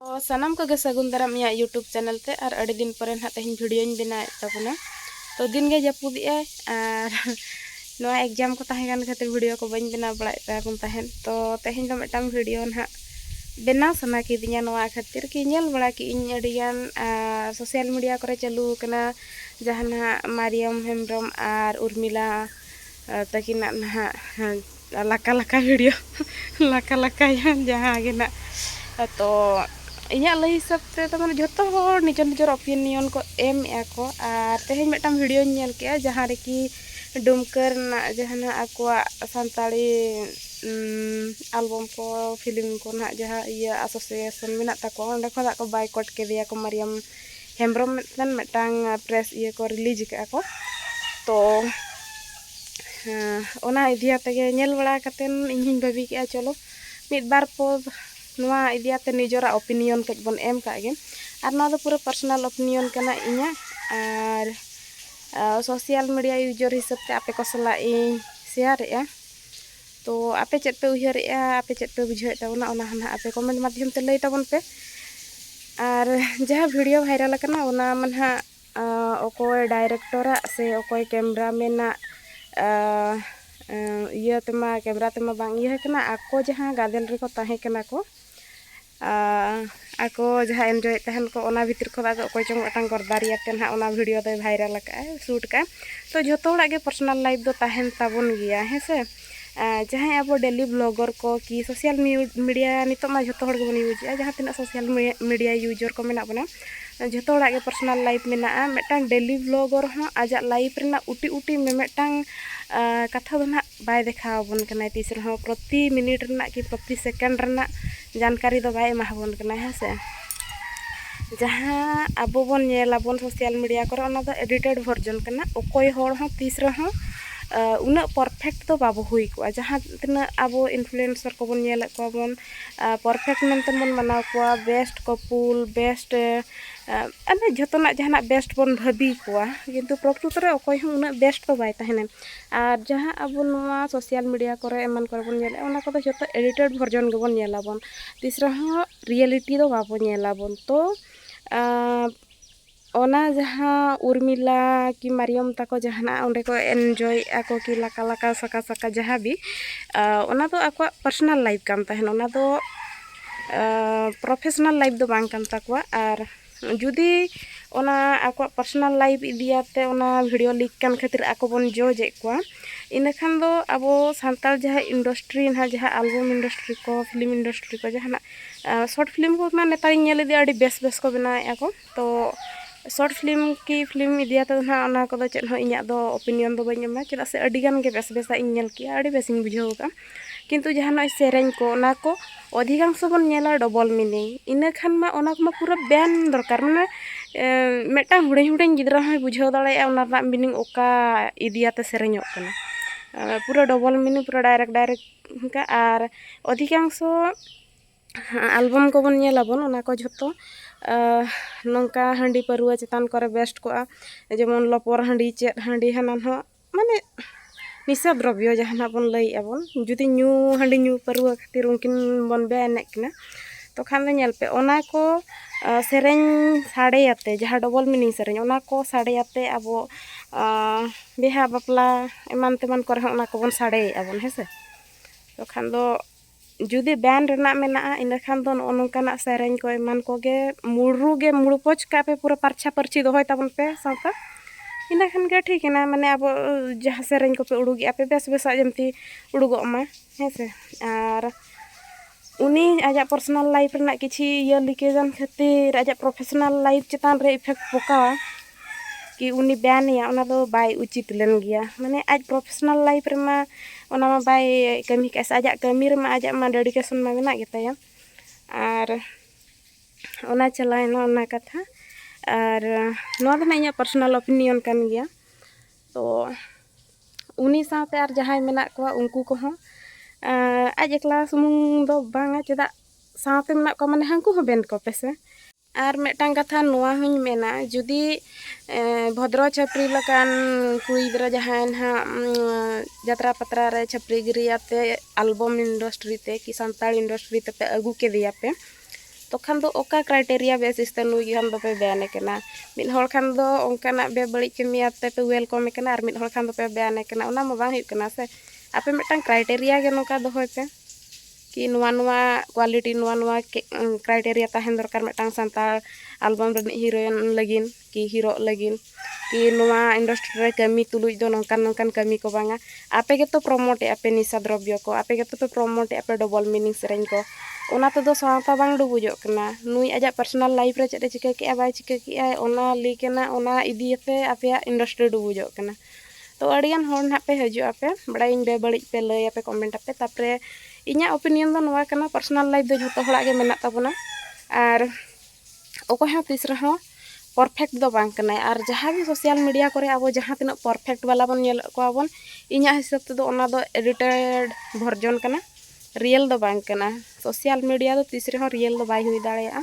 ᱛᱚ ᱥᱟᱱᱟᱢ ᱠᱚᱜᱮ ᱥᱟᱹᱜᱩᱱ ᱫᱟᱨᱟᱢ ᱤᱧᱟᱹᱜ ᱭᱩᱴᱩᱵᱽ ᱪᱮᱱᱮᱞ ᱛᱮ ᱟᱨ ᱟᱹᱰᱤ ᱫᱤᱱ ᱯᱚᱨᱮ ᱱᱟᱦᱟᱜ ᱛᱮᱦᱮᱧ ᱵᱷᱤᱰᱤᱭᱳᱧ ᱵᱮᱱᱟᱣᱮᱫ ᱛᱟᱵᱚᱱᱟ ᱛᱚ ᱫᱤᱱ ᱜᱮ ᱡᱟᱹᱯᱩᱫᱮᱜᱼᱟᱭ ᱟᱨ ᱱᱚᱣᱟ ᱮᱠᱡᱟᱢ ᱠᱚ ᱛᱟᱦᱮᱸ ᱠᱟᱱ ᱠᱷᱟᱹᱛᱤᱨ ᱵᱷᱤᱰᱤᱭᱳ ᱠᱚ ᱵᱟᱹᱧ ᱵᱮᱱᱟᱣ ᱵᱟᱲᱟᱭᱮᱫ ᱛᱟᱵᱚᱱ ᱛᱟᱦᱮᱸᱫ ᱛᱚ ᱛᱮᱦᱮᱧ ᱫᱚ ᱢᱤᱫᱴᱟᱝ ᱵᱷᱤᱰᱤᱭᱳ ᱱᱟᱦᱟᱜ ᱵᱮᱱᱟᱣ ᱥᱟᱱᱟ ᱠᱤᱫᱤᱧᱟ ᱱᱚᱣᱟ ᱠᱷᱟᱹᱛᱤᱨ ᱠᱤ ᱧᱮᱞ ᱵᱟᱲᱟ ᱠᱮᱜᱼᱤᱧ ᱟᱹᱰᱤᱜᱟᱱ ᱥᱳᱥᱟᱞ ᱢᱤᱰᱤᱭᱟ ᱠᱚᱨᱮ ᱪᱟᱹᱞᱩ ᱟᱠᱟᱱᱟ ᱡᱟᱦᱟᱸ ᱱᱟᱦᱟᱜ ᱢᱟᱨᱤᱭᱟᱢ ᱦᱮᱢᱵᱨᱚᱢ ᱟᱨ ᱩᱨᱢᱤᱞᱟ ᱛᱟᱹᱠᱤᱱᱟᱜ ᱱᱟᱦᱟᱜ ᱞᱟᱠᱟ ᱞᱟᱠᱟ ᱵᱷᱤᱰᱤᱭᱳ ᱞᱟᱠᱟ ᱞᱟᱠᱟᱭᱟᱢ ᱡᱟᱦᱟᱸ ᱜᱮ ᱱᱟᱜ ᱛᱚ ᱤᱧᱟᱹᱜ ᱞᱟᱹᱭ ᱦᱤᱥᱟᱹᱵ ᱛᱮᱫᱚ ᱢᱟᱱᱮ ᱡᱷᱚᱛᱚ ᱦᱚᱲ ᱱᱤᱡᱮᱨ ᱱᱤᱡᱮᱨ ᱚᱯᱤᱱᱤᱭᱚᱱ ᱠᱚ ᱮᱢᱮᱜᱼᱟ ᱠᱚ ᱟᱨ ᱛᱮᱦᱮᱧ ᱢᱤᱫᱴᱟᱝ ᱵᱷᱤᱰᱤᱭᱳᱧ ᱧᱮᱞ ᱠᱮᱜᱼᱟ ᱡᱟᱦᱟᱸ ᱨᱮᱠᱤ ᱰᱩᱢᱠᱟᱹ ᱨᱮᱱᱟᱜ ᱡᱟᱦᱟᱱᱟᱜ ᱟᱠᱚᱣᱟᱜ ᱥᱟᱱᱛᱟᱲᱤ ᱟᱞᱵᱚᱢ ᱠᱚ ᱯᱷᱤᱞᱢ ᱠᱚ ᱱᱟᱜ ᱡᱟᱦᱟᱸ ᱤᱭᱟᱹ ᱟᱥᱳᱥᱤᱭᱮᱥᱚᱱ ᱢᱮᱱᱟᱜ ᱛᱟᱠᱚᱣᱟ ᱚᱸᱰᱮ ᱠᱷᱚᱱᱟᱜ ᱠᱚ ᱵᱟᱭᱠᱚᱴ ᱠᱮᱫᱮᱭᱟ ᱠᱚ ᱢᱟᱨᱤᱭᱟᱢ ᱦᱮᱢᱵᱨᱚᱢ ᱢᱮᱱᱛᱮ ᱢᱤᱫᱴᱟᱝ ᱯᱨᱮᱥ ᱤᱭᱟᱹ ᱠᱚ ᱨᱤᱞᱤᱡᱽ ᱠᱟᱜᱼᱟ ᱠᱚ ᱛᱚ ᱚᱱᱟ ᱤᱫᱤᱭᱟ ᱛᱮᱜᱮ ᱧᱮᱞ ᱵᱟᱲᱟ ᱠᱟᱛᱮᱫ ᱤᱧ ᱦᱚᱧ ᱵᱷᱟᱹᱵᱤ ᱠᱮᱫᱼᱟ ᱪᱚᱞᱚ ᱢᱤᱫ ᱵᱟᱨ ᱯᱚᱫᱽ ᱱᱚᱣᱟ ᱤᱫᱤᱭᱟ ᱛᱮ ᱱᱤᱡᱮᱨᱟᱜ ᱳᱯᱤᱱᱤᱭᱚᱱ ᱠᱟᱹᱡ ᱵᱚᱱ ᱮᱢ ᱠᱟᱜ ᱜᱮ ᱟᱨ ᱱᱚᱣᱟ ᱫᱚ ᱯᱩᱨᱟᱹ ᱯᱟᱨᱥᱚᱱᱟᱞ ᱳᱯᱤᱱᱤᱭᱚᱱ ᱠᱟᱱᱟ ᱤᱧᱟᱹᱜ ᱟᱨ ᱥᱳᱥᱟᱞ ᱢᱤᱰᱤᱭᱟ ᱤᱭᱩᱡᱟᱨ ᱦᱤᱥᱟᱹᱵᱽ ᱛᱮ ᱟᱯᱮ ᱠᱚ ᱥᱟᱞᱟᱜ ᱤᱧ ᱥᱮᱭᱟᱨᱮᱫᱼᱟ ᱛᱳ ᱟᱯᱮ ᱪᱮᱫ ᱯᱮ ᱩᱭᱦᱟᱹᱨᱮᱫᱼᱟ ᱟᱯᱮ ᱪᱮᱫ ᱯᱮ ᱵᱩᱡᱷᱟᱹᱣᱮᱫ ᱛᱟᱵᱚᱱᱟ ᱚᱱᱟ ᱦᱚᱸ ᱱᱟᱦᱟᱜ ᱟᱯᱮ ᱠᱚᱢᱮᱱᱴ ᱢᱟᱫᱽᱫᱷᱚᱢ ᱛᱮ ᱞᱟᱹᱭ ᱛᱟᱵᱚᱱ ᱯᱮ ᱟᱨ ᱡᱟᱦᱟᱸ ᱵᱷᱤᱰᱤᱭᱳ ᱵᱷᱟᱭᱨᱟᱞ ᱟᱠᱟᱱᱟ ᱚᱱᱟ ᱢᱟ ᱱᱟᱦᱟᱜ ᱚᱠᱚᱭ ᱰᱟᱭᱨᱮᱠᱴᱚᱨᱟᱜ ᱥᱮ ᱚᱠᱚᱭ ᱠᱮᱢᱨᱟ ᱢᱮᱱᱟᱜ ᱤᱭᱟᱹ ᱛᱮᱢᱟ ᱠᱮᱢᱨᱟ ᱛᱮᱢᱟ ᱵᱟᱝ ᱤᱭᱟᱹ ᱠᱟᱱᱟ ᱟᱠᱚ ᱡᱟᱦᱟᱸ ᱜᱟᱫᱮᱞ ᱨᱮᱠᱚ ᱛᱟᱦᱮᱸ ᱠᱟᱱᱟ ᱠᱚ ᱟᱠᱚ ᱡᱟᱦᱟᱸ ᱤᱱᱡᱚᱭᱮᱜ ᱛᱟᱦᱮᱱ ᱠᱚ ᱚᱱᱟ ᱵᱷᱤᱛᱤᱨ ᱠᱷᱚᱱ ᱟᱫᱚ ᱚᱠᱚᱭ ᱪᱚᱝ ᱢᱤᱫᱴᱟᱝ ᱜᱚᱫᱽᱫᱟᱨᱤ ᱟᱛᱮ ᱦᱟᱸᱜ ᱚᱱᱟ ᱵᱷᱤᱰᱤᱭᱳ ᱫᱚᱭ ᱵᱷᱟᱭᱨᱟᱞ ᱠᱟᱜᱼᱟᱭ ᱥᱩᱴ ᱠᱟᱜᱼᱟᱭ ᱛᱚ ᱡᱷᱚᱛᱚ ᱦᱚᱲᱟᱜ ᱜᱮ ᱯᱟᱨᱥᱚᱱᱟᱞ ᱞᱟᱭᱤᱯᱷ ᱫᱚ ᱛᱟᱦᱮᱱ ᱛᱟᱵᱚᱱ ᱜᱮᱭᱟ ᱦᱮᱸ ᱥᱮ ᱡᱟᱦᱟᱸᱭ ᱟᱵᱚ ᱰᱮᱞᱤ ᱵᱞᱚᱜᱚᱨ ᱠᱚ ᱠᱤ ᱥᱳᱥᱟᱞ ᱢᱤᱰᱤᱭᱟ ᱱᱤᱛᱚᱜ ᱢᱟ ᱡᱚᱛᱚ ᱦᱚᱲ ᱜᱮᱵᱚᱱ ᱤᱭᱩᱡᱮᱜᱼᱟ ᱡᱟᱦᱟᱸ ᱛᱤᱱᱟᱹᱜ ᱥᱳᱥᱟᱞ ᱢᱤᱰᱤᱭᱟ ᱤᱭᱩᱡᱟᱨ ᱠᱚ ᱢᱮᱱᱟᱜ ᱵᱚᱱᱟ ᱡᱚᱛᱚ ᱦᱚᱲᱟᱜ ᱜᱮ ᱯᱟᱨᱥᱚᱱᱟᱞ ᱞᱟᱭᱤᱯᱷ ᱢᱮᱱᱟᱜᱼᱟ ᱢᱤᱫᱴᱟᱝ ᱰᱮᱞᱤ ᱵᱞᱚᱜᱚᱨ ᱦᱚᱸ ᱟᱡᱟᱜ ᱞᱟᱭᱤᱯᱷ ᱨᱮᱱᱟᱜ ᱩᱴᱤ ᱩᱴᱤ ᱢᱤᱢᱤᱫᱴᱟᱝ ᱠᱟᱛᱷᱟ ᱫᱚ ᱱᱟᱦᱟᱜ ᱵᱟᱭ ᱫᱮᱠᱷᱟᱣ ᱟᱵᱚᱱ ᱠᱟᱱᱟᱭ ᱛᱤᱥ ᱨᱮᱦᱚᱸ ᱯᱨᱚᱛᱤ ᱢᱤᱱᱤᱴ ᱨᱮᱱᱟᱜ ᱠᱤ ᱯᱨᱚᱛᱤ ᱥᱮᱠᱮᱱᱰ ᱨᱮᱱᱟᱜ ᱡᱟᱱᱠᱟᱨᱤ ᱫᱚ ᱵᱟᱭ ᱮᱢᱟ ᱵᱚᱱ ᱠᱟᱱᱟ ᱦᱮᱸ ᱥᱮ ᱡᱟᱦᱟᱸ ᱟᱵᱚ ᱵᱚᱱ ᱧᱮᱞᱟ ᱵᱚᱱ ᱥᱳᱥᱟᱞ ᱢᱤᱰᱤᱭᱟ ᱠᱚᱨᱮ ᱚᱱᱟ ᱫᱚ ᱮᱰᱤᱴᱮᱰ ᱵᱷᱟᱨᱡᱚᱱ ᱠᱟᱱᱟ ᱚᱠᱚᱭ ᱦᱚᱲ ᱦᱚᱸ ᱛᱤᱥ ᱨᱮᱦᱚᱸ ᱩᱱᱟᱹᱜ ᱯᱟᱨᱯᱷᱮᱠᱴ ᱫᱚ ᱵᱟᱵᱚ ᱦᱩᱭ ᱠᱚᱜᱼᱟ ᱡᱟᱦᱟᱸ ᱛᱤᱱᱟᱹᱜ ᱟᱵᱚ ᱤᱱᱯᱷᱞᱩᱭᱮᱱᱥᱟᱨ ᱠᱚᱵᱚᱱ ᱧᱮᱞᱮᱫ ᱠᱚᱣᱟ ᱵᱚᱱ ᱯᱟᱨᱯᱷᱮᱠᱴ ᱢᱮᱱᱛᱮ ᱵᱚᱱ ᱢᱟᱱᱟᱣ ᱠᱚᱣᱟ ᱵᱮᱥᱴ ᱠᱚᱯᱩᱞ ᱵᱮᱥᱴ ᱟᱫᱚ ᱡᱚᱛᱚᱱᱟᱜ ᱡᱟᱦᱟᱱᱟᱜ ᱵᱮᱥᱴ ᱵᱚᱱ ᱵᱷᱟᱹᱵᱤ ᱠᱚᱣᱟ ᱠᱤᱱᱛᱩ ᱯᱨᱚᱠᱨᱤᱛᱚ ᱨᱮ ᱚᱠᱚᱭ ᱦᱚᱸ ᱩᱱᱟᱹᱜ ᱵᱮᱥᱴ ᱫᱚ ᱵᱟᱭ ᱛᱟᱦᱮᱱᱟ ᱟᱨ ᱡᱟᱦᱟᱸ ᱟᱵᱚ ᱱᱚᱣᱟ ᱥᱳᱥᱟᱞ ᱢᱤᱰᱤᱭᱟ ᱠᱚᱨᱮ ᱮᱢᱟᱱ ᱠᱚᱨᱮ ᱵᱚᱱ ᱧᱮᱞᱮᱜᱼᱟ ᱚᱱᱟ ᱠᱚᱫᱚ ᱡᱚᱛᱚ ᱮᱰᱤᱴᱮᱰ ᱵᱷᱚᱨᱡᱚᱱ ᱜᱮᱵᱚᱱ ᱧᱮᱞ ᱟᱵᱚᱱ ᱛᱤᱥ ᱨᱮᱦᱚᱸ ᱨᱤᱭᱮᱞᱤᱴᱤ ᱫᱚ ᱵᱟᱵᱚᱱ ᱧᱮᱞ ᱟᱵᱚᱱ ᱛᱚ ᱚᱱᱟ ᱡᱟᱦᱟᱸ ᱩᱨᱢᱤᱞᱟ ᱠᱤ ᱢᱟᱨᱤᱭᱚᱢ ᱛᱟᱠᱚ ᱡᱟᱦᱟᱱᱟᱜ ᱚᱸᱰᱮ ᱠᱚ ᱤᱱᱡᱚᱭᱮᱜᱼᱟ ᱠᱚ ᱠᱤ ᱞᱟᱠᱟ ᱞᱟᱠᱟ ᱥᱟᱠᱟ ᱥᱟᱠᱟ ᱡᱟᱦᱟᱸ ᱜᱮ ᱚᱱᱟ ᱫᱚ ᱟᱠᱚᱣᱟᱜ ᱯᱟᱨᱥᱚᱱᱟᱞ ᱞᱟᱭᱤᱯᱷ ᱠᱟᱱ ᱛᱟᱦᱮᱱ ᱚᱱᱟ ᱫᱚ ᱯᱨᱚᱯᱷᱮᱥᱚᱱᱟᱞ ᱞᱟᱭᱤᱯᱷ ᱫᱚ ᱵᱟᱝ ᱠᱟᱱ ᱛᱟᱠᱚᱣᱟ ᱟᱨ ᱡᱩᱫᱤ ᱚᱱᱟ ᱟᱠᱚᱣᱟᱜ ᱯᱟᱨᱥᱚᱱᱟᱞ ᱞᱟᱭᱤᱯᱷ ᱤᱫᱤᱭᱟᱛᱮ ᱚᱱᱟ ᱵᱷᱤᱰᱭᱳ ᱞᱤᱠ ᱠᱟᱱ ᱠᱷᱟᱹᱛᱤᱨ ᱟᱠᱚ ᱵᱚᱱ ᱡᱚᱡᱽ ᱮᱫ ᱠᱚᱣᱟ ᱤᱱᱟᱹ ᱠᱷᱟᱱ ᱫᱚ ᱟᱵᱚ ᱥᱟᱱᱛᱟᱲ ᱡᱟᱦᱟᱸ ᱤᱱᱰᱚᱥᱴᱨᱤ ᱦᱟᱸᱜ ᱡᱟᱦᱟᱸ ᱟᱞᱵᱚᱢ ᱤᱱᱰᱚᱥᱴᱨᱤ ᱠᱚ ᱯᱷᱤᱞᱤᱢ ᱤᱱᱰᱚᱥᱴᱨᱤ ᱠᱚ ᱡᱟᱦᱟᱱᱟᱜ ᱥᱚᱨᱴ ᱯᱷᱤᱞᱤᱢ ᱠᱚᱢᱟ ᱱᱮᱛᱟᱨᱤᱧ ᱧᱮᱞ ᱤᱫᱤᱭᱟ ᱟᱹᱰᱤ ᱵᱮᱥ ᱵᱮᱥ ᱠᱚ ᱵᱮᱱᱟᱣ ᱮᱫᱟ ᱠᱚ ᱛᱚ ᱥᱚᱨᱴ ᱯᱷᱤᱞᱤᱢ ᱠᱤ ᱯᱷᱤᱞᱤᱢ ᱤᱫᱤᱭᱟᱛᱮ ᱫᱚ ᱦᱟᱸᱜ ᱚᱱᱟ ᱠᱚᱫᱚ ᱪᱮᱫ ᱦᱚᱸ ᱤᱧᱟᱹᱜ ᱫᱚ ᱚᱯᱤᱱᱤᱭᱚᱱ ᱫᱚ ᱵᱟᱹᱧ ᱮᱢᱟ ᱪᱮᱫᱟᱜ ᱥᱮ ᱟᱹᱰᱤ ᱜᱟᱱ ᱜᱮ ᱵᱮᱥ ᱵᱮᱥᱟᱜ ᱤᱧ ᱧᱮᱞ ᱠᱮᱜᱼᱟ ᱟᱹᱰᱤ ᱵᱮᱥ ᱤᱧ ᱵᱩᱡᱷᱟᱹᱣ ᱠᱟᱜᱼᱟ ᱠᱤᱱᱛᱩ ᱡᱟᱦᱟᱱᱟᱜ ᱥᱮᱨᱮᱧ ᱠᱚ ᱚᱱᱟ ᱠᱚ ᱚᱫᱷᱤᱠᱟᱝᱥᱚ ᱵᱚᱱ ᱧᱮᱞᱟ ᱰᱚᱵᱚᱞ ᱢᱤᱱᱤᱝ ᱤᱱᱟᱹ ᱠᱷᱟᱱ ᱢᱟ ᱚᱱᱟ ᱠᱚᱢᱟ ᱯᱩᱨᱟᱹ ᱵᱮᱱ ᱫᱚᱨᱠᱟᱨ ᱢᱟᱱᱮ ᱢᱤᱫᱴᱟᱝ ᱦᱩᱰᱤᱧ ᱦᱩᱰᱤᱧ ᱜᱤᱫᱽᱨᱟᱹ ᱦᱚᱸᱭ ᱵᱩᱡᱷᱟᱹᱣ ᱫᱟᱲᱮᱭᱟᱜᱼᱟ ᱚᱱᱟ ᱨᱮᱱᱟᱜ ᱢᱤᱱᱤᱝ ᱚᱠᱟ ᱤᱫᱤᱭᱟᱛᱮ ᱥᱮᱨᱮᱧᱚᱜ ᱠᱟᱱᱟ ᱯᱩᱨᱟᱹ ᱰᱚᱵᱚᱞ ᱢᱤᱱᱤᱝ ᱯᱩᱨᱟᱹ ᱰᱟᱭᱨᱮᱠᱴ ᱰᱟᱭᱨᱮᱠᱴ ᱚᱱᱠᱟ ᱟᱨ ᱚᱫᱷᱤᱠᱟᱝᱥᱚ ᱮᱞᱵᱟᱢ ᱠᱚᱵᱚᱱ ᱧᱮᱞ ᱟᱵᱚᱱ ᱚᱱᱟ ᱠᱚ ᱡᱷᱚᱛᱚ ᱱᱚᱝᱠᱟ ᱦᱟᱺᱰᱤ ᱯᱟᱹᱨᱣᱟᱹ ᱪᱮᱛᱟᱱ ᱠᱚᱨᱮ ᱵᱮᱥᱴ ᱠᱚᱜᱼᱟ ᱡᱮᱢᱚᱱ ᱞᱚᱯᱚᱨ ᱦᱟᱺᱰᱤ ᱪᱮᱫ ᱦᱟᱺᱰᱤ ᱦᱟᱱᱟ ᱱᱚᱣᱟ ᱢᱟᱱᱮ ᱱᱤᱥᱟᱹ ᱫᱨᱚᱵᱽᱭᱚ ᱡᱟᱦᱟᱱᱟᱜ ᱵᱚᱱ ᱞᱟᱹᱭᱮᱫᱼᱟ ᱵᱚᱱ ᱡᱩᱫᱤ ᱧᱩ ᱦᱟᱺᱰᱤ ᱧᱩ ᱯᱟᱹᱨᱣᱟᱹ ᱠᱷᱟᱹᱛᱤᱨ ᱩᱱᱠᱤᱱ ᱵᱚᱱ ᱵᱮᱼᱮᱱᱮᱡ ᱠᱤᱱᱟ ᱛᱚᱠᱷᱟᱱ ᱫᱚ ᱧᱮᱞ ᱯᱮ ᱚᱱᱟ ᱠᱚ ᱥᱮᱨᱮᱧ ᱥᱟᱰᱮᱭᱟᱛᱮ ᱡᱟᱦᱟᱸ ᱰᱚᱵᱚᱞ ᱢᱤᱱᱤᱝ ᱥᱮᱨᱮᱧ ᱚᱱᱟ ᱠᱚ ᱥᱟᱰᱮᱭᱟᱛᱮ ᱟᱵᱚ ᱵᱤᱦᱟᱹ ᱵᱟᱯᱞᱟ ᱮᱢᱟᱱ ᱛᱮᱢᱟᱱ ᱠᱚᱨᱮ ᱦᱚᱸ ᱚᱱᱟ ᱠᱚᱵᱚᱱ ᱥᱟᱰᱮᱭᱮᱫᱼᱟ ᱵᱚᱱ ᱦᱮᱸ ᱥᱮ ᱛᱚᱠᱷᱟᱱ ᱫᱚ ᱡᱩᱫᱤ ᱵᱮᱱ ᱨᱮᱱᱟᱜ ᱢᱮᱱᱟᱜᱼᱟ ᱤᱱᱟᱹ ᱠᱷᱟᱱ ᱫᱚ ᱱᱚᱜᱼᱚ ᱱᱚᱝᱠᱟᱱᱟᱜ ᱥᱮᱨᱮᱧ ᱠᱚ ᱮᱢᱟᱱ ᱠᱚᱜᱮ ᱢᱩᱞ ᱨᱩ ᱜᱮ ᱢᱩᱲ ᱯᱚᱪ ᱠᱟᱜ ᱯᱮ ᱯᱩᱨᱟᱹ ᱯᱟᱨᱪᱷᱟ ᱯᱟᱹᱨᱪᱷᱤ ᱫᱚᱦᱚᱭ ᱛᱟᱵᱚᱱ ᱯᱮ ᱥᱟᱶᱛᱟ ᱤᱱᱟᱹ ᱠᱷᱟᱱ ᱜᱮ ᱴᱷᱤᱠ ᱮᱱᱟ ᱢᱟᱱᱮ ᱟᱵᱚ ᱡᱟᱦᱟᱸ ᱥᱮᱨᱮᱧ ᱠᱚᱯᱮ ᱩᱰᱩᱠᱮᱜᱼᱟ ᱯᱮ ᱵᱮᱥ ᱵᱮᱥᱟᱜ ᱡᱮᱢᱛᱤ ᱩᱰᱩᱠᱚᱜ ᱢᱟ ᱦᱮᱸ ᱥᱮ ᱟᱨ ᱩᱱᱤ ᱟᱡᱟᱜ ᱯᱟᱨᱥᱚᱱᱟᱞ ᱞᱟᱭᱤᱯᱷ ᱨᱮᱱᱟᱜ ᱠᱤᱪᱷᱤ ᱤᱭᱟᱹ ᱞᱤᱠᱮᱡᱟᱱ ᱠᱷᱟᱹᱛᱤᱨ ᱟᱡᱟᱜ ᱯᱨᱚᱯᱷᱮᱥᱚᱱᱟᱞ ᱞᱟᱭᱤᱯᱷ ᱪᱮᱛᱟᱱ ᱨᱮ ᱤᱯᱷᱮᱠᱴ ᱯᱚᱠᱟᱣᱟ ᱠᱤ ᱩᱱᱤ ᱵᱮᱱ ᱮᱭᱟ ᱚᱱᱟ ᱫᱚ ᱵᱟᱭ ᱩᱪᱤᱛ ᱞᱮᱱ ᱜᱮᱭᱟ ᱢᱟᱱᱮ ᱟᱡ ᱯᱨᱚᱯᱷᱮᱥᱚᱱᱟᱞ ᱞᱟᱭᱤᱯᱷ ᱨᱮᱢᱟ ᱚᱱᱟ ᱢᱟ ᱵᱟᱭ ᱠᱟᱹᱢᱤ ᱠᱟᱜᱼᱟ ᱥᱮ ᱟᱡᱟᱜ ᱠᱟᱹᱢᱤ ᱨᱮᱢᱟ ᱟᱡᱟᱜ ᱢᱟ ᱰᱮᱰᱤᱠᱮᱥᱚᱱ ᱢᱟ ᱢᱮᱱᱟᱜ ᱜᱮᱛᱟᱭᱟ ᱟᱨ ᱚᱱᱟ ᱪᱟᱞᱟᱣᱮᱱᱟ ᱚᱱᱟ ᱠᱟᱛᱷᱟ ᱟᱨ ᱱᱚᱣᱟ ᱫᱚ ᱱᱟᱜ ᱤᱧᱟᱹᱜ ᱯᱟᱨᱥᱚᱱᱟᱞ ᱳᱯᱤᱱᱤᱭᱚᱱ ᱠᱟᱱ ᱜᱮᱭᱟ ᱛᱚ ᱩᱱᱤ ᱥᱟᱶᱛᱮ ᱟᱨ ᱡᱟᱦᱟᱸᱭ ᱢᱮᱱᱟᱜ ᱠᱚᱣᱟ ᱩᱱᱠᱩ ᱠᱚᱦᱚᱸ ᱟᱡ ᱮᱠᱞᱟ ᱥᱩᱢᱩᱝ ᱫᱚ ᱵᱟᱝᱟ ᱪᱮᱫᱟᱜ ᱥᱟᱶᱛᱮ ᱢᱮᱱᱟᱜ ᱠᱚᱣᱟ ᱢᱟᱱᱮ ᱦᱟᱹᱱᱠᱩ ᱦᱚᱸ ᱵᱮᱱ ᱠᱚᱯᱮ ᱥᱮ ᱟᱨ ᱢᱤᱫᱴᱟᱝ ᱠᱟᱛᱷᱟ ᱱᱚᱣᱟ ᱦᱚᱸᱧ ᱢᱮᱱᱟ ᱡᱩᱫᱤ ᱵᱷᱚᱫᱨᱚ ᱪᱷᱟᱹᱯᱨᱤ ᱞᱮᱠᱟᱱ ᱠᱩᱲᱤ ᱜᱤᱫᱽᱨᱟᱹ ᱡᱟᱦᱟᱸᱭ ᱱᱟᱦᱟᱜ ᱡᱟᱛᱨᱟ ᱯᱟᱛᱨᱟ ᱨᱮ ᱪᱷᱟᱹᱯᱨᱤ ᱜᱤᱨᱤ ᱟᱛᱮ ᱟᱞᱵᱚᱢ ᱤᱱᱰᱚᱥᱴᱨᱤ ᱛᱮ ᱠᱤ ᱥᱟᱱᱛᱟᱲ ᱤᱱᱰᱚᱥᱴᱨᱤ ᱛᱮᱯᱮ ᱟᱹᱜᱩ ᱠᱮᱫᱮᱭᱟ ᱯᱮ ᱛᱚᱠᱷᱟᱱ ᱫᱚ ᱚᱠᱟ ᱠᱨᱟᱭᱴᱮᱨᱤᱭᱟ ᱵᱮᱥᱤᱥ ᱛᱮ ᱱᱩᱭ ᱟᱢ ᱫᱚᱯᱮ ᱵᱮᱱᱮ ᱠᱟᱱᱟ ᱢᱤᱫ ᱦᱚᱲ ᱠᱷᱟᱱ ᱫᱚ ᱚᱱᱠᱟᱱᱟᱜ ᱵᱮᱵᱟᱹᱲᱤᱡ ᱠᱟᱹᱢᱤ ᱟᱛᱮ ᱯᱮ ᱚᱭᱮᱞᱠᱟᱢᱮ ᱠᱟᱱᱟ ᱟᱨ ᱢᱤᱫ ᱦᱚᱲ ᱠᱷᱟᱱ ᱫᱚᱯᱮ ᱵᱮᱱᱮ ᱠᱟᱱᱟ ᱚᱱᱟ ᱢᱟ ᱵᱟᱝ ᱦᱩᱭᱩᱜ ᱠᱟᱱᱟ ᱥᱮ ᱟᱯᱮ ᱢᱤᱫᱴᱟᱝ ᱠᱨᱟᱭᱴᱮᱨᱤᱭᱟ ᱜᱮ ᱱᱚᱝᱠᱟ ᱫᱚᱦᱚᱭ ᱯᱮ ᱠᱤ ᱱᱚᱣᱟ ᱱᱚᱣᱟ ᱠᱚᱣᱟᱞᱤᱴᱤ ᱱᱚᱣᱟ ᱱᱚᱣᱟ ᱠᱨᱟᱭᱴᱮᱨᱤᱭᱟ ᱛᱟᱦᱮᱱ ᱫᱚᱨᱠᱟᱨ ᱢᱤᱫᱴᱟᱝ ᱥᱟᱱᱛᱟᱲ ᱟᱞᱵᱟᱢ ᱨᱤᱱᱤᱡ ᱦᱤᱨᱳᱭᱤᱱ ᱞᱟᱹᱜᱤᱫ ᱠᱤ ᱦᱤᱨᱳᱜ ᱞᱟᱹᱜᱤᱫ ᱠᱤ ᱱᱚᱣᱟ ᱤᱱᱰᱟᱥᱴᱨᱤ ᱨᱮ ᱠᱟᱹᱢᱤ ᱛᱩᱞᱩᱡ ᱫᱚ ᱱᱚᱝᱠᱟᱱ ᱱᱚᱝᱠᱟᱱ ᱠᱟᱹᱢᱤ ᱠᱚ ᱵᱟᱝᱟ ᱟᱯᱮ ᱜᱮᱛᱚ ᱯᱨᱚᱢᱳᱴ ᱮᱜᱼᱟ ᱯᱮ ᱱᱤᱥᱟ ᱫᱨᱚᱵᱽᱵᱚ ᱠᱚ ᱟᱯᱮ ᱜᱮᱛᱚ ᱯᱮ ᱯᱨᱚᱢᱳᱴ ᱮᱜᱼᱟ ᱯᱮ ᱰᱚᱵᱚᱞ ᱢᱤᱱᱤᱝ ᱥᱮᱨᱮᱧ ᱠᱚ ᱚᱱᱟ ᱛᱮᱫᱚ ᱥᱟᱶᱛᱟ ᱵᱟᱝ ᱰᱩᱵᱩᱡᱚᱜ ᱠᱟᱱᱟ ᱱᱩᱭ ᱟᱡᱟᱜ ᱯᱟᱨᱥᱚᱱᱟᱞ ᱞᱟᱭᱤᱯᱷ ᱨᱮ ᱪᱮᱫ ᱮ ᱪᱤᱠᱟᱹ ᱠᱮᱜᱼᱟ ᱵᱟᱭ ᱪᱤᱠᱟᱹ ᱠᱮᱜᱼᱟ ᱚᱱᱟ ᱞᱤᱠ ᱮᱱᱟ ᱚᱱᱟ ᱤᱫᱤᱭᱟᱛᱮ ᱟᱯᱮᱭᱟᱜ ᱤᱱᱰᱟᱥᱴᱨᱤ ᱰᱩᱵᱩᱡᱚᱜ ᱠᱟᱱᱟ ᱛᱚ ᱟᱹᱰᱤᱜᱟᱱ ᱦᱚᱲ ᱱᱟᱦᱟᱜ ᱯᱮ ᱦᱤᱡᱩᱜ ᱟᱯᱮ ᱵᱟᱲᱟᱭᱟᱹᱧ ᱵᱮᱵᱟᱹᱲᱤᱡ ᱯᱮ ᱞᱟᱹᱭ ᱟᱯᱮ ᱠᱚᱢᱮᱱᱴ ᱟᱯᱮ ᱛᱟᱨᱯᱚᱨᱮ ᱤᱧᱟᱹᱜ ᱚᱯᱤᱱᱤᱭᱚᱱ ᱫᱚ ᱱᱚᱣᱟ ᱠᱟᱱᱟ ᱯᱟᱨᱥᱚᱱᱟᱞ ᱞᱟᱭᱤᱯᱷ ᱫᱚ ᱡᱷᱚᱛᱚ ᱦᱚᱲᱟᱜ ᱜᱮ ᱢᱮᱱᱟᱜ ᱛᱟᱵᱚᱱᱟ ᱟᱨ ᱚᱠᱚᱭ ᱦᱚᱸ ᱛᱤᱥ ᱨᱮᱦᱚᱸ ᱯᱟᱨᱯᱷᱮᱠᱴ ᱫᱚ ᱵᱟᱝ ᱠᱟᱱᱟᱭ ᱟᱨ ᱡᱟᱦᱟᱸ ᱜᱮ ᱥᱳᱥᱟᱞ ᱢᱤᱰᱤᱭᱟ ᱠᱚᱨᱮ ᱟᱵᱚ ᱡᱟᱦᱟᱸ ᱛᱤᱱᱟᱹᱜ ᱯᱟᱨᱯᱷᱮᱠᱴ ᱵᱟᱞᱟ ᱵᱚᱱ ᱧᱮᱞᱮᱫ ᱠᱚᱣᱟ ᱵᱚᱱ ᱤᱧᱟᱹᱜ ᱦᱤᱥᱟᱹᱵ ᱛᱮᱫᱚ ᱚᱱᱟ ᱫᱚ ᱮᱰᱤᱴᱮᱰ ᱵᱷᱚᱨᱡᱚᱱ ᱠᱟᱱᱟ ᱨᱤᱭᱮᱞ ᱫᱚ ᱵᱟᱝ ᱠᱟᱱᱟ ᱥᱳᱥᱟᱞ ᱢᱤᱰᱤᱭᱟ ᱫᱚ ᱛᱤᱥ ᱨᱮᱦᱚᱸ ᱨᱤᱭᱮᱞ ᱫᱚ ᱵᱟᱭ ᱦᱩᱭ ᱫᱟᱲᱮᱭᱟᱜᱼᱟ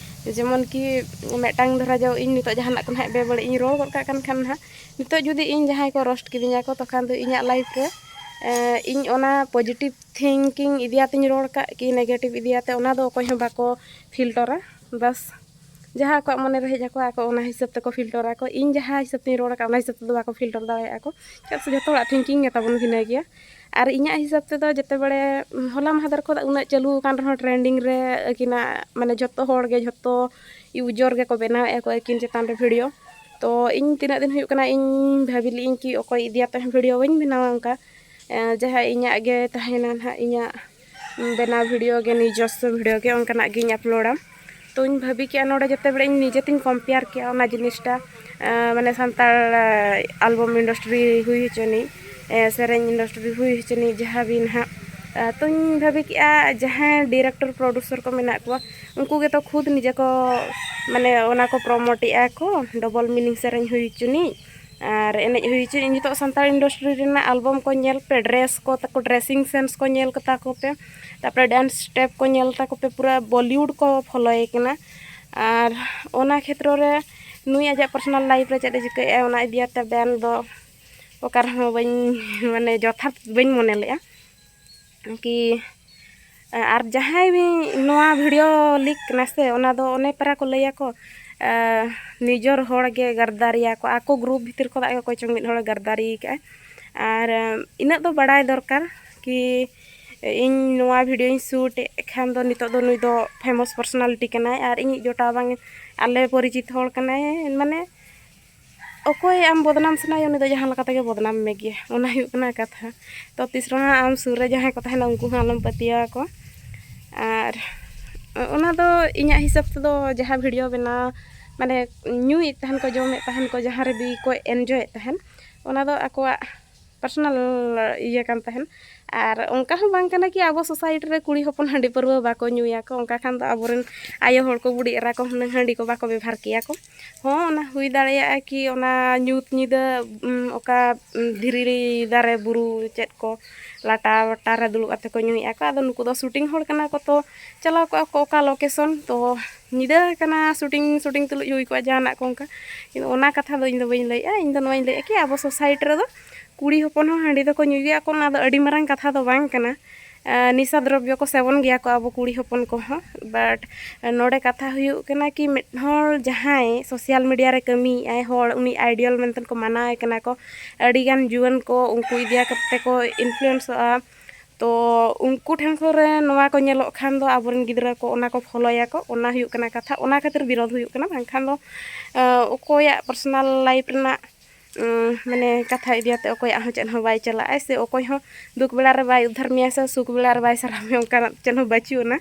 ᱡᱮᱢᱚᱱ ᱠᱤ ᱢᱤᱫᱴᱟᱝ ᱫᱷᱟᱨᱟ ᱫᱚ ᱤᱧ ᱱᱤᱛᱚᱜ ᱡᱟᱦᱟᱱᱟᱜ ᱠᱚ ᱱᱟᱦᱟᱜ ᱵᱮᱵᱟᱹᱲᱤᱡ ᱤᱧ ᱨᱚᱲ ᱜᱚᱫ ᱠᱟᱜ ᱠᱟᱱ ᱠᱷᱟᱱ ᱱᱟᱦᱟᱜ ᱱᱤᱛᱚᱜ ᱡᱩᱫᱤ ᱤᱧ ᱡᱟᱦᱟᱸᱭ ᱠᱚ ᱨᱳᱥᱴ ᱠᱤᱫᱤᱧᱟ ᱠᱚ ᱛᱚᱠᱷᱟᱱ ᱫᱚ ᱤᱧᱟᱹᱜ ᱞᱟᱭᱤᱯᱷ ᱨᱮ ᱤᱧ ᱚᱱᱟ ᱯᱚᱡᱮᱴᱤᱵᱷ ᱛᱷᱤᱝᱠᱤᱝ ᱤᱫᱤ ᱠᱟᱛᱮᱧ ᱨᱚᱲ ᱠᱟᱜ ᱠᱤ ᱱᱮᱜᱮᱴᱤᱵᱷ ᱤᱫᱤ ᱠᱟᱛᱮ ᱚᱱᱟ ᱫᱚ ᱚᱠᱚᱭ ᱦᱚᱸ ᱵᱟᱠᱚ ᱯᱷᱤᱞᱴᱚᱨᱟ ᱵᱟᱥ ᱡᱟᱦᱟᱸ ᱟᱠᱚᱣᱟᱜ ᱢᱚᱱᱮ ᱨᱮ ᱦᱮᱡ ᱟᱠᱚᱣᱟ ᱟᱠᱚ ᱚᱱᱟ ᱦᱤᱥᱟᱹᱵ ᱛᱮᱠᱚ ᱯᱷᱤᱞᱴᱚᱨᱟᱠᱚ ᱤᱧ ᱡᱟᱦᱟᱸ ᱦᱤᱥᱟᱹᱵ ᱛᱤᱧ ᱨᱚᱲ ᱠᱟᱜ ᱚᱱᱟ ᱦᱤᱥᱟᱹᱵ ᱛᱮᱫᱚ ᱵᱟᱠᱚ ᱯᱷᱤᱞᱴᱚᱨ ᱫᱟᱲᱮᱭᱟᱜᱼᱟ ᱠᱚ ᱪᱮᱫᱟᱜ ᱥᱮ ᱡᱚᱛᱚ ᱦᱚᱲᱟᱜ ᱛᱷᱤᱝᱠᱤᱝ ᱜᱮᱛᱟᱵᱚᱱ ᱵᱷᱤᱱᱟᱹ ᱜᱮᱭᱟ ᱟᱨ ᱤᱧᱟᱹᱜ ᱦᱤᱥᱟᱹᱵ ᱛᱮᱫᱚ ᱡᱮᱛᱮ ᱵᱟᱲᱮ ᱦᱚᱞᱟ ᱢᱟᱦᱫᱮᱨ ᱠᱷᱚᱱ ᱩᱱᱟᱹᱜ ᱪᱟᱹᱞᱩ ᱟᱠᱟᱱ ᱨᱮᱦᱚᱸ ᱴᱨᱮᱱᱰᱤᱝ ᱨᱮ ᱟᱹᱠᱤᱱᱟᱜ ᱢᱟᱱᱮ ᱡᱚᱛᱚ ᱦᱚᱲ ᱜᱮ ᱡᱷᱚᱛᱚ ᱤᱭᱩᱡᱚᱨ ᱜᱮᱠᱚ ᱵᱮᱱᱟᱣ ᱮᱫᱟ ᱠᱚ ᱟᱹᱠᱤᱱ ᱪᱮᱛᱟᱱ ᱨᱮ ᱵᱷᱤᱰᱤᱭᱳ ᱛᱚ ᱤᱧ ᱛᱤᱱᱟᱹᱜ ᱫᱤᱱ ᱦᱩᱭᱩᱜ ᱠᱟᱱᱟ ᱤᱧ ᱵᱷᱟᱹᱵᱤ ᱞᱮᱫ ᱟᱹᱧ ᱠᱤ ᱚᱠᱚᱭ ᱤᱫᱤᱭᱟᱛᱮ ᱦᱚᱸ ᱵᱷᱤᱰᱤᱭᱳ ᱵᱟᱹᱧ ᱵᱮᱱᱟᱣᱟ ᱚᱱᱠᱟ ᱡᱟᱦᱟᱸ ᱤᱧᱟᱹᱜ ᱜᱮ ᱛᱟᱦᱮᱱᱟ ᱦᱟᱸᱜ ᱤᱧᱟᱹᱜ ᱵᱮᱱᱟᱣ ᱵᱷᱤᱰᱤᱭᱳ ᱜᱮ ᱱᱤᱡᱚᱥᱥᱚ ᱵᱷᱤᱰᱤᱭᱳ ᱜᱮ ᱚᱱᱠᱟᱱᱟᱜ ᱜᱤᱧ ᱟᱯᱞᱳᱰᱟ ᱛᱚᱧ ᱵᱷᱟᱹᱵᱤ ᱠᱮᱜᱼᱟ ᱱᱚᱰᱮ ᱡᱟᱛᱮ ᱵᱚᱞᱮ ᱤᱧ ᱱᱤᱡᱮ ᱛᱤᱧ ᱠᱚᱢᱯᱮᱭᱟᱨ ᱠᱮᱜᱼᱟ ᱚᱱᱟ ᱡᱤᱱᱤᱥᱴᱟ ᱢᱟᱱᱮ ᱥᱟᱱᱛᱟᱲ ᱟᱞᱵᱚᱢ ᱤᱱᱰᱟᱥᱴᱨᱤ ᱦᱩᱭ ᱦᱚᱪᱚᱱᱤᱡ ᱥᱮᱨᱮᱧ ᱤᱱᱰᱟᱥᱴᱨᱤ ᱦᱩᱭ ᱦᱚᱪᱚᱱᱤᱡ ᱡᱟᱦᱟᱸ ᱜᱮ ᱱᱟᱦᱟᱜ ᱛᱚᱧ ᱵᱷᱟᱹᱵᱤ ᱠᱮᱜᱼᱟ ᱡᱟᱦᱟᱸᱭ ᱰᱤᱨᱮᱠᱴᱚᱨ ᱯᱨᱚᱰᱩᱥᱚᱨ ᱠᱚ ᱢᱮᱱᱟᱜ ᱠᱚᱣᱟ ᱩᱱᱠᱩ ᱜᱮᱛᱚ ᱠᱷᱩᱫᱽ ᱱᱤᱡᱮ ᱠᱚ ᱢᱟᱱᱮ ᱚᱱᱟ ᱠᱚ ᱯᱨᱚᱢᱳᱴ ᱮᱜᱼᱟ ᱠᱚ ᱰᱚᱵᱚᱞ ᱢᱤᱱᱤᱝ ᱥᱮᱨᱮᱧ ᱦᱩᱭ ᱦᱚᱪᱚᱱᱤᱡ ᱟᱨ ᱮᱱᱮᱡ ᱦᱩᱭ ᱦᱚᱪᱚᱭᱮᱫ ᱤᱧ ᱱᱤᱛᱚᱜ ᱥᱟᱱᱛᱟᱲ ᱤᱱᱰᱟᱥᱴᱨᱤ ᱨᱮᱱᱟᱜ ᱮᱞᱵᱟᱢ ᱠᱚ ᱧᱮᱞ ᱯᱮ ᱰᱨᱮᱥ ᱠᱚ ᱛᱟᱠᱚ ᱰᱨᱮᱥᱤᱝ ᱥᱮᱱᱥ ᱠᱚ ᱧᱮᱞ ᱠᱟᱛᱟ ᱠᱚᱯᱮ ᱛᱟᱯᱚᱨᱮ ᱰᱮᱱᱥ ᱥᱴᱮᱯ ᱠᱚ ᱧᱮᱞ ᱛᱟᱠᱚ ᱯᱮ ᱯᱩᱨᱟᱹ ᱵᱚᱞᱤᱭᱩᱰ ᱠᱚ ᱯᱷᱳᱞᱳᱭᱮ ᱠᱟᱱᱟ ᱟᱨ ᱚᱱᱟ ᱠᱷᱮᱛᱨᱚ ᱨᱮ ᱱᱩᱭ ᱟᱡᱟᱜ ᱯᱟᱨᱥᱚᱱᱟᱞ ᱞᱟᱭᱤᱯᱷ ᱨᱮ ᱪᱮᱫ ᱮ ᱪᱤᱠᱟᱹᱭᱮᱜᱼᱟ ᱚᱱᱟ ᱤᱫᱤ ᱠᱟᱛᱮ ᱵᱮᱱ ᱫᱚ ᱚᱠᱟ ᱨᱮᱦᱚᱸ ᱵᱟᱹᱧ ᱢᱟᱱᱮ ᱡᱚᱛᱷᱟᱛ ᱵᱟᱹᱧ ᱢᱚᱱᱮ ᱞᱮᱜᱼᱟ ᱠᱤ ᱟᱨ ᱡᱟᱦᱟᱸᱭ ᱱᱚᱣᱟ ᱵᱷᱤᱰᱤᱭᱳ ᱞᱤᱠ ᱠᱟᱱᱟ ᱥᱮ ᱚᱱᱟ ᱫᱚ ᱚᱱᱮ ᱯᱟᱨᱟ ᱠᱚ ᱞᱟᱹᱭ ᱟᱠᱚ ᱱᱤᱡᱚᱨ ᱦᱚᱲ ᱜᱮ ᱜᱟᱫᱽᱫᱟᱨᱤᱭᱟ ᱠᱚ ᱟᱠᱚ ᱜᱨᱩᱯ ᱵᱷᱤᱛᱤᱨ ᱠᱷᱚᱱᱟᱜ ᱜᱮ ᱚᱠᱚᱭ ᱪᱚᱝ ᱢᱤᱫ ᱦᱚᱲᱮ ᱜᱟᱫᱽᱫᱟᱨᱤ ᱠᱟᱜᱼᱟᱭ ᱟᱨ ᱤᱱᱟᱹᱜ ᱫᱚ ᱵᱟᱲᱟᱭ ᱫᱚᱨᱠᱟᱨ ᱠᱤ ᱤᱧ ᱱᱚᱣᱟ ᱵᱷᱤᱰᱤᱭᱳᱧ ᱥᱩᱴ ᱮᱫ ᱠᱷᱟᱱ ᱫᱚ ᱱᱤᱛᱚᱜ ᱫᱚ ᱱᱩᱭ ᱫᱚ ᱯᱷᱮᱢᱟᱥ ᱯᱟᱨᱥᱚᱱᱟᱞᱤᱴᱤ ᱠᱟᱱᱟᱭ ᱟᱨ ᱤᱧᱤᱡ ᱡᱚᱴᱟᱣ ᱵᱟᱝ ᱟᱞᱮ ᱯᱚᱨᱤᱪᱤᱛ ᱦᱚᱲ ᱠᱟᱱᱟᱭ ᱢᱟᱱᱮ ᱚᱠᱚᱭ ᱟᱢ ᱵᱚᱫᱽᱱᱟᱢ ᱥᱟᱱᱟᱭᱮᱭᱟ ᱩᱱᱤ ᱫᱚ ᱡᱟᱦᱟᱸ ᱞᱮᱠᱟ ᱛᱮᱜᱮ ᱵᱚᱫᱽᱱᱟᱢ ᱢᱮᱜᱮᱭᱟ ᱚᱱᱟ ᱦᱩᱭᱩᱜ ᱠᱟᱱᱟ ᱠᱟᱛᱷᱟ ᱛᱚ ᱛᱤᱥ ᱨᱮᱦᱚᱸ ᱟᱢ ᱥᱩᱨ ᱨᱮ ᱡᱟᱦᱟᱸᱭ ᱠᱚ ᱛᱟᱦᱮᱱᱟ ᱩᱱᱠᱩ ᱦᱚᱸ ᱟᱞᱚᱢ ᱯᱟᱹᱛᱭᱟᱹᱣ ᱟᱠᱚᱣᱟ ᱟᱨ ᱚᱱᱟ ᱫᱚ ᱤᱧᱟᱹᱜ ᱦᱤᱥᱟᱹᱵ ᱛᱮᱫᱚ ᱡᱟᱦᱟᱸ ᱵᱷᱤᱰᱭᱳ ᱵᱮᱱᱟᱣ ᱢᱟᱱᱮ ᱧᱩᱭᱮᱫ ᱛᱟᱦᱮᱱ ᱠᱚ ᱡᱚᱢᱮᱫ ᱛᱟᱦᱮᱱ ᱠᱚ ᱡᱟᱦᱟᱸ ᱨᱮᱜᱮ ᱠᱚ ᱤᱱᱡᱚᱭᱮᱫ ᱛᱟᱦᱮᱱ ᱚᱱᱟ ᱫᱚ ᱟᱠᱚᱣᱟᱜ ᱯᱟᱨᱥᱚᱱᱟᱞ ᱤᱭᱟᱹ ᱠᱟᱱ ᱛᱟᱦᱮᱱ ᱟᱨ ᱚᱱᱠᱟ ᱦᱚᱸ ᱵᱟᱝ ᱠᱟᱱᱟ ᱠᱤ ᱟᱵᱚ ᱥᱳᱥᱟᱭᱤᱴᱤ ᱨᱮ ᱠᱩᱲᱤ ᱦᱚᱯᱚᱱ ᱦᱟᱺᱰᱤ ᱯᱟᱹᱣᱨᱟᱹ ᱵᱟᱠᱚ ᱧᱩᱭᱟ ᱠᱚ ᱚᱱᱠᱟ ᱠᱷᱟᱱ ᱫᱚ ᱟᱵᱚ ᱨᱮᱱ ᱟᱭᱳ ᱦᱚᱲ ᱠᱚ ᱵᱩᱰᱷᱤ ᱮᱨᱟ ᱠᱚ ᱦᱩᱱᱟᱹᱝ ᱦᱟᱺᱰᱤ ᱠᱚ ᱵᱟᱠᱚ ᱵᱮᱵᱷᱟᱨ ᱠᱮᱭᱟ ᱠᱚ ᱦᱚᱸ ᱚᱱᱟ ᱦᱩᱭ ᱫᱟᱲᱮᱭᱟᱜᱼᱟ ᱠᱤ ᱚᱱᱟ ᱧᱩᱛ ᱧᱤᱫᱟᱹ ᱚᱠᱟ ᱫᱷᱤᱨᱤ ᱫᱟᱨᱮ ᱵᱩᱨᱩ ᱪᱮᱫ ᱠᱚ ᱞᱟᱴᱟ ᱯᱟᱴᱟ ᱨᱮ ᱫᱩᱲᱩᱵ ᱠᱟᱛᱮᱫ ᱠᱚ ᱧᱩᱭᱮᱫᱼᱟ ᱠᱚ ᱟᱫᱚ ᱱᱩᱠᱩ ᱫᱚ ᱥᱩᱴᱤᱝ ᱦᱚᱲ ᱠᱟᱱᱟ ᱠᱚ ᱛᱚ ᱪᱟᱞᱟᱣ ᱠᱚᱜᱼᱟ ᱠᱚ ᱚᱠᱟ ᱞᱳᱠᱮᱥᱚᱱ ᱛᱚ ᱧᱤᱫᱟᱹ ᱟᱠᱟᱱᱟ ᱥᱩᱴᱤᱝ ᱥᱩᱴᱤᱝ ᱛᱩᱞᱩᱡ ᱦᱩᱭ ᱠᱚᱜᱼᱟ ᱡᱟᱦᱟᱱᱟᱜ ᱠᱚ ᱚᱱᱠᱟ ᱠᱤᱱᱛᱩ ᱚᱱᱟ ᱠᱟᱛᱷᱟ ᱫᱚ ᱤᱧ ᱫᱚ ᱵᱟᱹᱧ ᱞᱟᱹᱭᱮᱜᱼᱟ ᱤᱧ ᱫᱚ ᱱᱚᱣᱟᱧ ᱞᱟᱹᱭᱮᱜᱼᱟ ᱠᱤ ᱟᱵᱚ ᱥᱳᱥᱟᱭᱤᱴᱤ ᱨᱮᱫᱚ ᱠᱩᱲᱤ ᱦᱚᱯᱚᱱ ᱦᱚᱸ ᱦᱟᱺᱰᱤ ᱫᱚᱠᱚ ᱧᱩᱭ ᱜᱮᱭᱟ ᱠᱚ ᱚᱱᱟ ᱫᱚ ᱟᱹᱰᱤ ᱢᱟᱨᱟᱝ ᱠᱟᱛᱷᱟ ᱫᱚ ᱵᱟᱝ ᱠᱟᱱᱟ ᱱᱤᱥᱟ ᱫᱨᱚᱵᱽᱵᱚ ᱠᱚ ᱥᱮᱵᱚᱱ ᱜᱮᱭᱟ ᱠᱚ ᱟᱵᱚ ᱠᱩᱲᱤ ᱦᱚᱯᱚᱱ ᱠᱚᱦᱚᱸ ᱵᱟᱴ ᱱᱚᱰᱮ ᱠᱟᱛᱷᱟ ᱦᱩᱭᱩᱜ ᱠᱟᱱᱟ ᱠᱤ ᱢᱤᱫ ᱦᱚᱲ ᱡᱟᱦᱟᱸᱭ ᱥᱳᱥᱟᱞ ᱢᱤᱰᱤᱭᱟ ᱨᱮ ᱠᱟᱹᱢᱤᱭᱮᱜ ᱟᱭ ᱦᱚᱲ ᱩᱱᱤ ᱟᱭᱰᱤᱭᱟᱞ ᱢᱮᱱᱛᱮ ᱠᱚ ᱢᱟᱱᱟᱣᱮ ᱠᱟᱱᱟ ᱠᱚ ᱟᱹᱰᱤ ᱜᱟᱱ ᱡᱩᱣᱟᱹᱱ ᱠᱚ ᱩᱱᱠᱩ ᱤᱫᱤ ᱠᱟᱛᱮ ᱠᱚ ᱤᱱᱯᱷᱞᱩᱭᱮᱱᱥᱚᱜᱼᱟ ᱛᱚ ᱩᱱᱠᱩ ᱴᱷᱮᱱ ᱠᱚᱨᱮ ᱱᱚᱣᱟ ᱠᱚ ᱧᱮᱞᱚᱜ ᱠᱷᱟᱱ ᱫᱚ ᱟᱵᱚ ᱨᱮᱱ ᱜᱤᱫᱽᱨᱟᱹ ᱠᱚ ᱚᱱᱟ ᱠᱚ ᱯᱷᱳᱞᱳᱭᱟᱠᱚ ᱚᱱᱟ ᱦᱩᱭᱩᱜ ᱠᱟᱱᱟ ᱠᱟᱛᱷᱟ ᱚᱱᱟ ᱠᱷᱟᱹᱛᱤᱨ ᱵᱤᱨᱳᱫᱷ ᱦᱩᱭᱩᱜ ᱠᱟᱱᱟ ᱵᱟᱝᱠᱷᱟᱱ ᱫᱚ ᱚᱠᱚᱭᱟᱜ ᱯᱟᱨᱥᱚᱱᱟᱞ ᱞᱟᱭᱤᱯᱷ ᱨᱮᱱᱟᱜ ᱢᱟᱱᱮ ᱠᱟᱛᱷᱟ ᱤᱫᱤ ᱠᱟᱛᱮᱫ ᱚᱠᱚᱭᱟᱜ ᱦᱚᱸ ᱪᱮᱫ ᱦᱚᱸ ᱵᱟᱭ ᱪᱟᱞᱟᱜᱼᱟ ᱥᱮ ᱚᱠᱚᱭ ᱦᱚᱸ ᱫᱩᱠ ᱵᱮᱲᱟ ᱨᱮ ᱵᱟᱭ ᱩᱫᱽᱫᱷᱟᱨ ᱢᱮᱭᱟ ᱥᱮ ᱥᱩᱠ ᱵᱮᱲᱟ ᱨᱮ ᱵᱟᱭ ᱥᱟᱨᱦᱟᱣ ᱢᱮᱭᱟ ᱚᱱᱠᱟᱱᱟᱜ ᱪᱮᱫ ᱦᱚᱸ ᱵᱟᱹᱪᱩᱜ ᱟᱱᱟ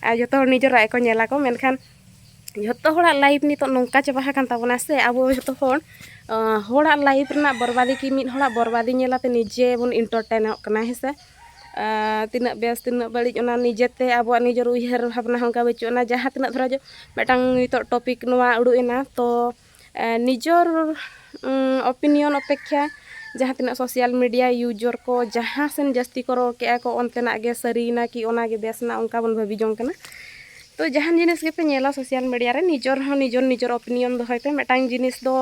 ᱟᱨ ᱡᱚᱛᱚ ᱦᱚᱲ ᱱᱤᱡᱮᱨᱟᱜ ᱜᱮᱠᱚ ᱧᱮᱞᱟᱠᱚ ᱢᱮᱱᱠᱷᱟᱱ ᱡᱷᱚᱛᱚ ᱦᱚᱲᱟᱜ ᱞᱟᱭᱤᱯᱷ ᱱᱤᱛᱚᱜ ᱱᱚᱝᱠᱟ ᱪᱟᱵᱟ ᱟᱠᱟᱱ ᱛᱟᱵᱚᱱᱟ ᱥᱮ ᱟᱵᱚ ᱡᱷᱚᱛᱚ ᱦᱚᱲ ᱦᱚᱲᱟᱜ ᱞᱟᱭᱤᱯᱷ ᱨᱮᱱᱟᱜ ᱵᱚᱨᱵᱟᱫᱤ ᱠᱤ ᱢᱤᱫ ᱦᱚᱲᱟᱜ ᱵᱚᱨᱵᱟᱫᱤ ᱧᱮᱞ ᱠᱟᱛᱮᱫ ᱱᱤᱡᱮ ᱵᱚᱱ ᱤᱱᱴᱟᱨᱴᱮᱱᱚᱜ ᱠᱟᱱᱟ ᱦᱮᱸ ᱥᱮ ᱛᱤᱱᱟᱹᱜ ᱵᱮᱥ ᱛᱤᱱᱟᱹᱜ ᱵᱟᱹᱲᱤᱡ ᱚᱱᱟ ᱱᱤᱡᱮ ᱛᱮ ᱟᱵᱚᱣᱟᱜ ᱱᱤᱡᱮᱨ ᱩᱭᱦᱟᱹᱨ ᱵᱷᱟᱵᱽᱱᱟ ᱦᱚᱸ ᱚᱱᱠᱟ ᱵᱟᱹᱪᱩᱜ ᱟᱱᱟ ᱡᱟᱦᱟᱸ ᱛᱤᱱᱟᱹᱜ ᱫᱷᱚᱨᱚ ᱢᱤᱫᱴᱟᱝ ᱱᱤᱛᱚᱜ ᱴᱚᱯᱤᱠ ᱱᱚᱣᱟ ᱩᱰᱩᱠ ᱮᱱᱟ ᱛᱚ ᱱᱤᱡᱚᱨ ᱚᱯᱤᱱᱤᱭᱚᱱ ᱚᱯᱮᱠᱠᱷᱟ ᱡᱟᱦᱟᱸ ᱛᱤᱱᱟᱹᱜ ᱥᱳᱥᱟᱞ ᱢᱤᱰᱤᱭᱟ ᱤᱭᱩᱡᱚᱨ ᱠᱚ ᱡᱟᱦᱟᱸ ᱥᱮᱱ ᱡᱟᱹᱥᱛᱤ ᱠᱚ ᱨᱚᱲ ᱠᱮᱜᱼᱟ ᱠᱚ ᱚᱱᱛᱮᱱᱟᱜ ᱜᱮ ᱥᱟᱹᱨᱤᱭᱮᱱᱟ ᱠᱤ ᱚᱱᱟᱜᱮ ᱵᱮᱥᱱᱟ ᱚᱱᱠᱟ ᱵᱚᱱ ᱵᱷᱟᱹᱵᱤ ᱡᱚᱝ ᱠᱟᱱᱟ ᱛᱚ ᱡᱟᱦᱟᱱ ᱡᱤᱱᱤᱥ ᱜᱮᱯᱮ ᱧᱮᱞᱟ ᱥᱳᱥᱟᱞ ᱢᱤᱰᱤᱭᱟ ᱨᱮ ᱱᱤᱡᱚᱨ ᱦᱚᱸ ᱱᱤᱡᱚᱨ ᱱᱤᱡᱚᱨ ᱚᱯᱤᱱᱤᱭᱚᱱ ᱫᱚᱦᱚᱭ ᱯᱮ ᱢᱤᱫᱴᱟᱝ ᱡᱤᱱᱤᱥ ᱫᱚ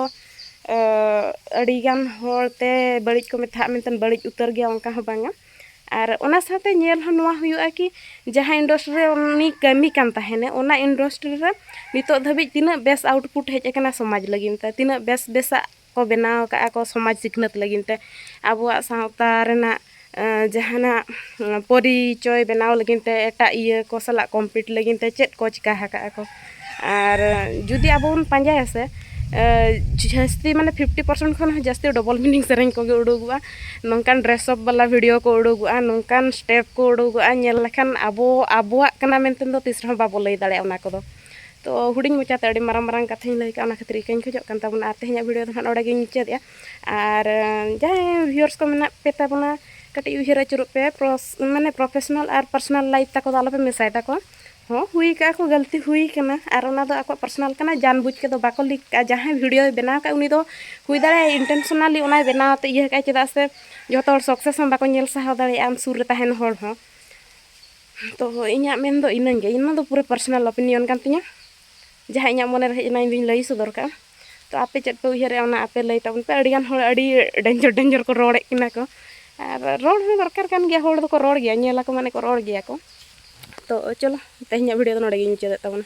ᱟᱹᱰᱤᱜᱟᱱ ᱦᱚᱲᱛᱮ ᱵᱟᱹᱲᱤᱡ ᱠᱚ ᱢᱮᱛᱟᱜ ᱢᱮᱱᱛᱮ ᱵᱟᱹᱲᱤᱡ ᱩᱛᱟᱹᱨ ᱜᱮᱭᱟ ᱚᱱᱠᱟ ᱦᱚᱸ ᱵᱟᱝᱟ ᱟᱨ ᱚᱱᱟ ᱥᱟᱶᱛᱮ ᱧᱮᱞ ᱦᱚᱸ ᱱᱚᱣᱟ ᱦᱩᱭᱩᱜᱼᱟ ᱠᱤ ᱡᱟᱦᱟᱸ ᱤᱱᱰᱚᱥᱴᱨᱤ ᱨᱮ ᱩᱱᱤ ᱠᱟᱹᱢᱤ ᱠᱟᱱ ᱛᱟᱦᱮᱱᱮ ᱚᱱᱟ ᱤᱱᱰᱚᱥᱴᱨᱤ ᱨᱮ ᱱᱤᱛᱚᱜ ᱫᱷᱟᱹᱵᱤᱡ ᱛᱤᱱᱟᱹᱜ ᱵᱮᱥ ᱟᱣᱩᱴᱯᱩᱴ ᱦᱮᱡ ᱠᱟᱱᱟ ᱥᱚᱢᱟᱡᱽ ᱞᱟᱹᱜᱤᱫ ᱛᱮ ᱛᱤᱱᱟᱹᱜ ᱵᱮᱥ ᱵᱮᱥᱟᱜ ᱠᱚ ᱵᱮᱱᱟᱣ ᱠᱟᱜᱼᱟ ᱠᱚ ᱥᱚᱢᱟᱡᱽ ᱥᱤᱠᱷᱱᱟᱹᱛ ᱞᱟᱹᱜᱤᱫ ᱛᱮ ᱟᱵᱚᱣᱟᱜ ᱥᱟᱶᱛᱟ ᱨᱮᱱᱟᱜ ᱡᱟᱦᱟᱱᱟᱜ ᱯᱚᱨᱤᱪᱚᱭ ᱵᱮᱱᱟᱣ ᱞᱟᱹᱜᱤᱫ ᱛᱮ ᱮᱴᱟᱜ ᱤᱭᱟᱹ ᱠᱚ ᱥᱟᱞᱟᱜ ᱠᱚᱢᱯᱤᱴ ᱞᱟᱹᱜᱤᱫ ᱛᱮ ᱪᱮᱫ ᱠᱚ ᱪᱤᱠᱟᱹ ᱟᱠᱟᱜᱼᱟ ᱠᱚ ᱟᱨ ᱡᱩᱫᱤ ᱟᱵᱚ ᱵᱚᱱ ᱯᱟᱸᱡᱟᱭᱟ ᱥᱮ ᱡᱟᱹᱥᱛᱤ ᱢᱟᱱᱮ ᱯᱷᱤᱯᱴᱤ ᱯᱟᱨᱥᱮᱱᱴ ᱠᱷᱚᱱ ᱦᱚᱸ ᱡᱟᱹᱥᱛᱤ ᱰᱚᱵᱚᱞ ᱢᱤᱱᱤᱝ ᱥᱮᱨᱮᱧ ᱠᱚᱜᱮ ᱩᱰᱩᱠᱚᱜᱼᱟ ᱱᱚᱝᱠᱟᱱ ᱰᱨᱮᱥ ᱟᱯ ᱵᱟᱞᱟ ᱵᱷᱤᱰᱭᱳ ᱠᱚ ᱩᱰᱩᱠᱚᱜᱼᱟ ᱱᱚᱝᱠᱟᱱ ᱥᱴᱮᱯ ᱠᱚ ᱩᱰᱩᱠᱚᱜᱼᱟ ᱧᱮᱞ ᱞᱮᱠᱷᱟᱱ ᱟᱵᱚ ᱟᱵᱚᱣᱟᱜ ᱠᱟᱱᱟ ᱢᱮᱱᱛᱮ ᱫᱚ ᱛᱤᱥ ᱨᱮᱦᱚᱸ ᱵᱟᱵᱚ ᱞᱟᱹᱭ ᱫᱟᱲᱮᱭᱟᱜᱼᱟ ᱚᱱᱟ ᱠᱚᱫᱚ ᱛᱚ ᱦᱩᱰᱤᱧ ᱢᱟᱪᱷᱟᱛᱮ ᱟᱹᱰᱤ ᱢᱟᱨᱟᱝ ᱢᱟᱨᱟᱝ ᱠᱟᱛᱷᱟᱧ ᱞᱟᱹᱭ ᱠᱮᱫᱼᱟ ᱚᱱᱟ ᱠᱷᱟᱹᱛᱤᱨ ᱤᱠᱟᱹᱧ ᱠᱷᱚᱡᱚᱜ ᱠᱟᱱ ᱛᱟᱵᱚᱱᱟ ᱟᱨ ᱛᱮᱦᱮᱧᱟᱜ ᱵᱷᱤᱰᱭᱳ ᱫᱚ ᱦᱟᱸᱜ ᱱᱚᱰᱮ ᱜᱮᱧ ᱢᱩᱪᱟᱹᱫᱮᱜᱼᱟ ᱟᱨ ᱡᱟᱦᱟᱸᱭ ᱵᱷᱤᱭᱩᱣᱟᱨᱥ ᱠᱚ ᱢᱮᱱᱟᱜ ᱯᱮ ᱛᱟᱵᱚᱱᱟ ᱠᱟᱹᱴᱤᱡ ᱩᱭᱦᱟᱹᱨ ᱟᱹᱪᱩᱨᱚᱜ ᱯᱮ ᱢᱟᱱᱮ ᱯᱨᱚᱯᱷᱮᱥᱚᱱᱟᱞ ᱟᱨ ᱯᱟᱨᱥᱚᱱᱟᱞ ᱞᱟᱭᱤᱯᱷ ᱛᱟᱠᱚ ᱫᱚ ᱟᱞᱚᱯᱮ ᱢᱮᱥᱟᱭ ᱛᱟᱠᱚᱣᱟ ᱦᱚᱸ ᱦᱩᱭ ᱠᱟᱜᱼᱟ ᱠᱚ ᱜᱟᱹᱞᱛᱤ ᱦᱩᱭ ᱠᱟᱱᱟ ᱟᱨ ᱚᱱᱟ ᱫᱚ ᱟᱠᱚᱣᱟᱜ ᱯᱟᱨᱥᱚᱱᱟᱞ ᱠᱟᱱᱟ ᱡᱟᱱ ᱵᱩᱡᱽ ᱠᱟᱛᱮ ᱫᱚ ᱵᱟᱠᱚ ᱞᱤᱠ ᱠᱟᱜᱼᱟ ᱡᱟᱦᱟᱸᱭ ᱵᱷᱤᱰᱤᱭᱳ ᱵᱮᱱᱟᱣ ᱠᱟᱜᱼᱟ ᱩᱱᱤ ᱫᱚ ᱦᱩᱭ ᱫᱟᱲᱮᱭᱟᱜᱼᱟ ᱤᱱᱴᱮᱱᱥᱚᱱᱟᱞᱤ ᱚᱱᱟᱭ ᱵᱮᱱᱟᱣ ᱛᱮ ᱤᱭᱟᱹ ᱠᱟᱜᱼᱟᱭ ᱪᱮᱫᱟᱜ ᱥᱮ ᱡᱚᱛᱚ ᱦᱚᱲ ᱥᱚᱠᱥᱮᱥ ᱦᱚᱸ ᱵᱟᱠᱚ ᱧᱮᱞ ᱥᱟᱦᱟᱣ ᱫᱟᱲᱮᱭᱟᱜᱼᱟ ᱟᱢ ᱥᱩᱨ ᱨᱮ ᱛᱟᱦᱮᱱ ᱦᱚᱲ ᱦᱚᱸ ᱛᱚ ᱤᱧᱟᱹᱜ ᱢᱮᱱ ᱫᱚ ᱤᱱᱟᱹ ᱜᱮ ᱤᱱᱟᱹ ᱫᱚ ᱯᱩᱨᱟᱹ ᱯᱟᱨᱥᱚᱱᱟᱞ ᱚᱯᱤᱱᱤᱭᱚᱱ ᱠᱟᱱ ᱛᱤᱧᱟᱹ ᱡᱟᱦᱟᱸ ᱤᱧᱟᱹᱜ ᱢᱚᱱᱮ ᱨᱮ ᱦᱮᱡ ᱮᱱᱟ ᱤᱧ ᱫᱚᱧ ᱞᱟᱹᱭ ᱥᱚᱫᱚᱨ ᱠᱟᱜᱼᱟ ᱛᱚ ᱟᱯᱮ ᱪᱮᱫ ᱯᱮ ᱩᱭᱦᱟᱹᱨᱮᱜᱼᱟ ᱚᱱᱟ ᱟᱯᱮ ᱞᱟᱹᱭ ᱛᱟᱵᱚᱱ ᱯᱮ ᱟᱹᱰᱤᱜᱟᱱ ᱦᱚᱲ ᱟᱹᱰᱤ ᱰᱮᱧᱡᱚᱨ ᱰᱮᱧᱡᱚᱨ ᱠᱚ ᱨᱚᱲᱮᱫ ᱠᱤᱱᱟ ᱠᱚ ᱟᱨ ᱨᱚᱲ ᱦᱚᱸ ᱫᱚᱨᱠᱟᱨ ᱠᱟᱱ ᱜᱮᱭᱟ ᱦᱚᱲ ᱫᱚᱠᱚ ᱨᱚᱲ ᱜᱮᱭᱟ ᱧᱮᱞ ᱟᱠᱚ ᱢᱟᱱᱮ ᱠᱚ ᱨᱚᱲ ᱜᱮᱭᱟ ᱠᱚ ᱛᱚ ᱪᱚᱞᱚ ᱛᱮᱦᱮᱧᱟᱜ ᱵᱷᱤᱰᱤᱭᱳ ᱫᱚ ᱱᱚᱰᱮ ᱜᱮᱧ ᱢᱩᱪᱟᱹᱫᱮᱜ ᱛᱟᱵᱚᱱᱟ